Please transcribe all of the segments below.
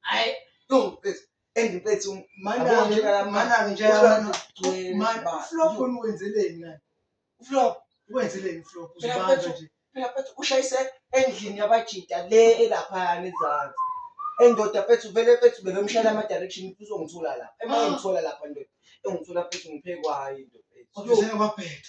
hayi no mfethu and mfethu manake manake nje flop wenzeleni ngani flop wenzeleni flop uzibamba nje phela mfethu ushayise endlini yabajita le elapha ngezansi endoda mfethu vele mfethu bebemshayela ama direction uzongithola lapha emangithola lapha ndoda engithola mfethu ngiphekwayo into mfethu kodwa sengababheda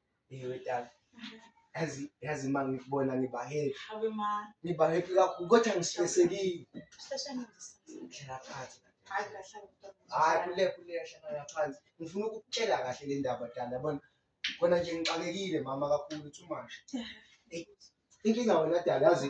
Ngiyodala. Yazi yazi uma ngikubona ngiba happy. Hawe ma. Ngiba happy kakhulu kodwa ngisihlekile. Sihleshana nje. Hlala phansi. Hayi kahle. Hayi kule kule hlala phansi. Ngifuna ukukutshela kahle le ndaba dala yabona. Kona nje ngixakekile mama kakhulu too much. Inkinga wena dala yazi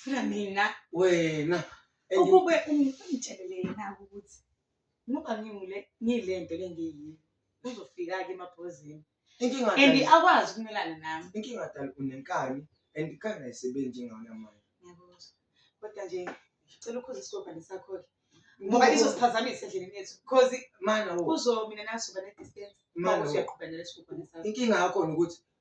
funa mina wena ukube umthelele yena ukuthi ngoba ngingule ngilento lengiyiyo uzofika ke emabhozini inkinga and akwazi ukumelana nami inkinga dala unenkani and ikhaya ayisebenzi ngona manje ngiyakuzwa kodwa nje ngicela ukhoze isikobhane sakho ke ngoba izosiphazamisa endleleni yethu because mana kuzo mina nasuba ne distance mana uyaqhubeka nalesikobhane sakho inkinga yakho ukuthi